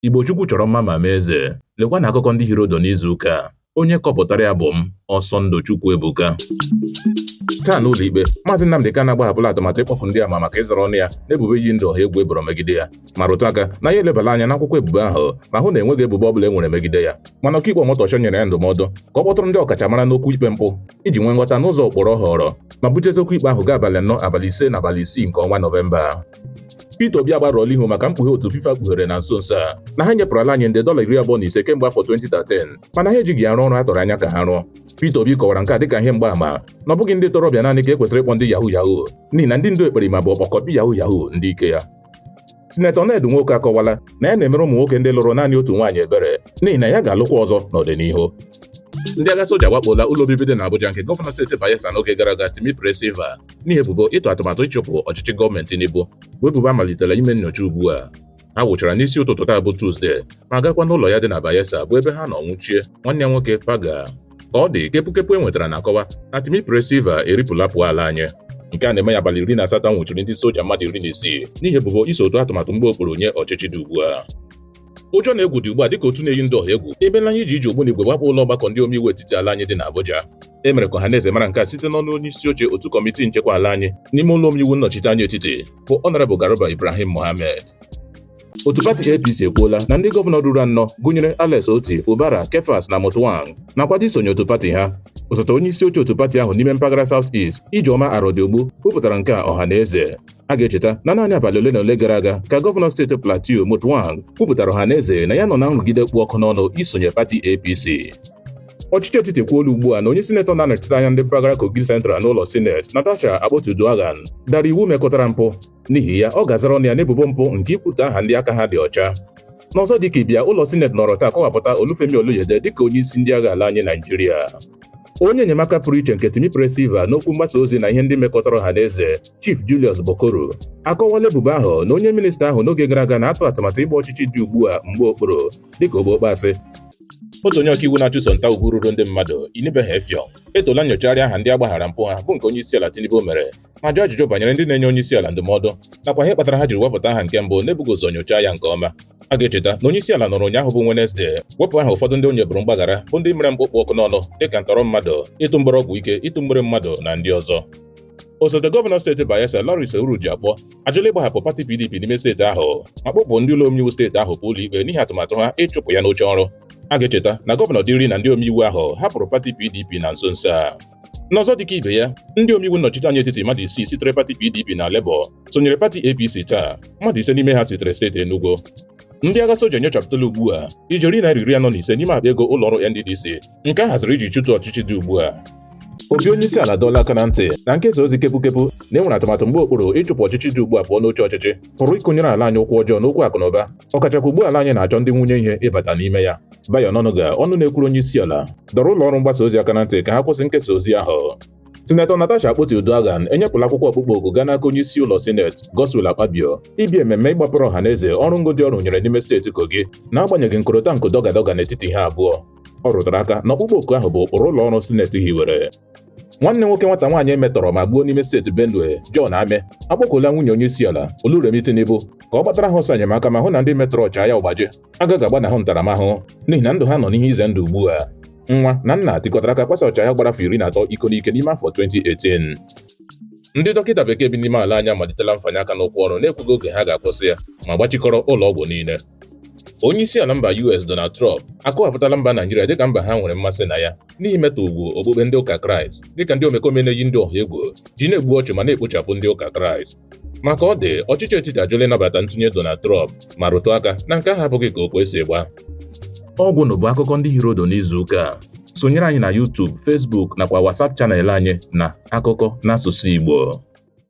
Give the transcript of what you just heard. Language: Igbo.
Igbo Chukwu chọrọ mma ma mee eze. Lekwa na akụkọ ndị hiri ụdụ n'izu ụka a. Onye kọpụtara ya bụ m, Ọsọndụ Chukwuebuka. Taa n'ụlọ ikpe, Maazị Nnamdị Kanu agbahapụla atụmatụ ịkpọku ndị ama maka ịzara ọnụ ya n'ebubo iyi ndụ ọha egwu e boro megide ya ma rụtụ aka na ya elebala anya n'akwụkwọ ebubo ahụ ma hụ na enweghị ebubo ọbụla e nwere megide ya mana ọkaikpe Omotosho nyere ya ndụmọdụ ka ọ kpọtụrụ ndị ọkachamara n'okwu ikpe mpụ iji nwee nghọta n'ụzọ ụkpụrụ ọ họọrọ ma bujezie okwu ikpe ahụ gaa abalị anọ abalị ise na abalị isii nke ọnwa Nọvemba Peter Obi agbarụọla ihu maka mkpughe otu FIFA kpughere na nso nso a na ha nyepụrụ ala anyị nde dọla iri abụọ na ise kemgbe afọ 2013 mana ha ejighị ya rụọ ọrụ a tụrụ anya ka ha rụọ Peter Obi kọwara nke a dịka ihe mgbaama na ọ bụghị ndị ntorobịa naanị ka e kwesịrị ịkpọ ndị yahoo yahoo n'ihi na ndị ndu ekperima bụ ọkpọka ndị yahoo yahoo ndị ike ya Sinetọ Ned Nwoko akọwala na ya na-emere ụmụ nwoke ndị lụrụ naanị otu nwaanyị ebere n'ihi na ya ga-alụkwa ọzọ n'ọdịnihu ndị agha soja awakpoola ụlọ obibi dị n'Abuja nke gọvanọ steeti Bayelsa n'oge gara aga Timipre Sylva n'ihi ebubo ịtụ atụmatụ ịchụpụ ọchịchị gọọmenti Tinubu bụ ebubo a malitela ime nnyocha ugbu a ha wụchara n'isi ụtụtụ taa bụ Tuzdee ma gakwa n'ụlọ ya dị na Bayelsa bụ ebe ha nọ nwụchie nwanne ya nwoke Paga ka ọ dị kepukepu e nwetara na-akọwa na Timipre Sylva eripụla pụọ ala anyị nke a na-eme ya abalị iri na asatọ a nwụchiri ndị soja mmadụ iri na isii n'ihi ebubo iso tụọ atụmatụ mgba okpuru nye ọchịchị dị ugbu a ụjọ na egwu dị ugbu a dịka otu na-eyi ndụ ọha egwu ebela anyị iji iji ogbunigwe wakpo ụlọ ọgbakọ ndị omeiwu etiti ala anyị dị n'Abuja e mere ka ọha na eze mara nke a site n'ọnụ onye isi oche otu kọmitii nchekwa ala anyị n'ime ụlọ omeiwu nnọchite anya etiti bụ Honourable Garba Ibrahim Mohammed otu pati APC ekwuola na ndị gọvanọ ruru anọ gụnyere Alex Otti Fubara Kefas na Mutfwang na-akwado isonye otu pati ha osote onye isi oche otu pati ahụ n'ime mpaghara South East Ijeoma Arodiogbu kwupụtara nke a ọha na eze a ga-echeta na naanị abalị ole na ole gara aga ka gọvanọ steeti Plateau Mutfwang kwupụtara ọha na eze na ya nọ na nrụgide kpụ ọkụ n'ọnụ isonye pati APC ọchịchị etiti ekwuola ugbu a na onye sinetọ na-anọchite anya ndị mpaghara Kogi Central n'ụlọ sineti Natasha Akpoti Uduaghan dara iwu mekọtara mpụ n'ihi ya ọ ga-azara ọnụ ya n'ebubo mpụ nke ikwutọ aha ndị aka ha dị ọcha n'ọzọ dịka ibe ya ụlọ sineti nọrọ taa kọwapụta Olufemi Oluyede dịka onye isi ndị agha ala anyị Naijiria onye enyemaka pụrụ iche nke Timipre Sylva n'okwu mgbasa ozi na ihe ndị mekọtara ọha na eze Chief Julius Bokoru akọwala ebubo ahụ na onye minista ahụ n'oge gara aga na-atụ atụmatụ ịgba ọchịchị dị ugbu a mgba okpuru dịka ogbeokpe asị otu onye ọkaiwu na-achụso nta ugwu ruru ndị mmadụ Inibehe Effiong etoola nnyochagharị aha ndị a gbaghaara mpụ ha bụ nke onye isi ala Tinubu mere ma jụọ ajụjụ banyere ndị na-enye onye isi ala ndụmọdụ nakwa ihe kpatara ha jiri wepụta aha nke mbụ n'ebughị ụzọ nyochaa ya nke ọma a ga-echeta na onye isi ala nọrọ ụnyaahụ bụ Wenezdee wepụ aha ụfọdụ ndị o nyeburu mgbaghara bụ ndị mere mpụ kpụ ọkụ n'ọnụ dịka ntọrọ mmadụ ịtụ mgbere ọgwụ ike ịtụ mgbere mmadụ na ndị ọzọ osote gọvanọ steeti Bayelsa Lawrence Ewhrudjakpo ajụla ịgbahapụ pati PDP n'ime steeti ahụ ma kpọpụ ndị ụlọ omeiwu steeti ahụ pụ ụlọikpe n'ihi atụmatụ ha ịchụpụ ya n'oche ọrụ a ga-echeta na gọvanọ Diri na ndị omeiwu ahụ hapụrụ pati PDP na nso nso a n'ọzọ dịka ibe ya ndị omeiwu nnọchiteanya etiti mmadụ isii sitere pati PDP na Labour sonyere pati APC taa mmadụ ise n'ime ha sitere steeti Enugu ndị agha soja nyochapụtala ugbu a ijeri naira iri anọ na ise n'ime akpa ego ụlọ ọrụ NDDC nke a haziri iji chụtụ ọchịchị dị ugbu a obi onye isi ala dọọla aka na ntị na nkesa ozi kepụkepụ na e nwere atụmatụ mgba okpuru ịchụpụ ọchịchị dị ugbu a pụọ n'oche ọchịchị pụrụ ịkụnyere ala anyị ụkwụ ọjọọ n'okwu akụ na ụba ọkachakwa ugbu a ala anyị na-achọ ndị nwunye ihe ịbata n'ime ya Bayo Onanuga ọnụ na-ekwuru onye isi ala dọrọ ụlọ ọrụ mgbasa ozi aka na ntị ka ha kwụsị nkesa ozi ahụ Sinetọ Natasha Akpoti-Uduaghan enyepụla akwụkwọ ọkpụkpọ oku gaa n'aka onye isi ụlọ sineti Godswill Akpabio ịbịa ememme ịgbapụrụ ọha na eze ọrụ ngo ndị ọ rụnyere n'ime steeti Kogi n'agbanyeghị nkorota nko dọgadọga n'etiti ha abụọ ọ rụtara aka na ọkpụkpọ oku ahụ bụ ụkpụrụ ụlọ ọrụ sineti hiwere nwanne nwoke nwata nwaanyị e metọrọ ma gbuo n'ime steeti Benue John Ameh akpọkuola nwunye onye isi ala Oluremi Tinubu ka ọ gbatara ha ọsọ enyemaka ma hụ na ndị metọrọ Ochanya Ogbanje agaghị agbanahụ ntaramahụhụ n'ihi na ndụ ha nọ n'ihe ize ndụ ugbu a nwa na nna tikọtara aka kwasa Ochanya gbara afọ iri na atọ iko n'ike n'ime afọ 2018 ndị dọkịta bekee bi n'ime ala anyị amalitela mfanye aka n'ụkwụ ọrụ na-ekwughị oge ha ga-akwụsị ya ma gbachikọrọ ụlọ ọgwụ niile onye isi ala mba US Donald Trump akọwapụtala mba Naijiria dịka mba ha nwere mmasị na ya n'ihi mmetọ ugwu okpukpe ndị ụka Kraịst dịka ndị omekome na-eyi ndị ọha egwu ji na-egbu ọchụ ma na-ekpochapụ ndị ụka Kraịst ma ka ọ dị ọchịchị etiti ajụla ịnabata ntụnye Donald Trump ma rụtụ aka na nke ahụ abụghị ka okwe si gba ọ gwụnụ bụ akụkọ ndị hiri odo n'izu ụka a sonyere anyị na YouTube Facebook nakwa WhatsApp channel anyị na akụkọ n'asụsụ Igbo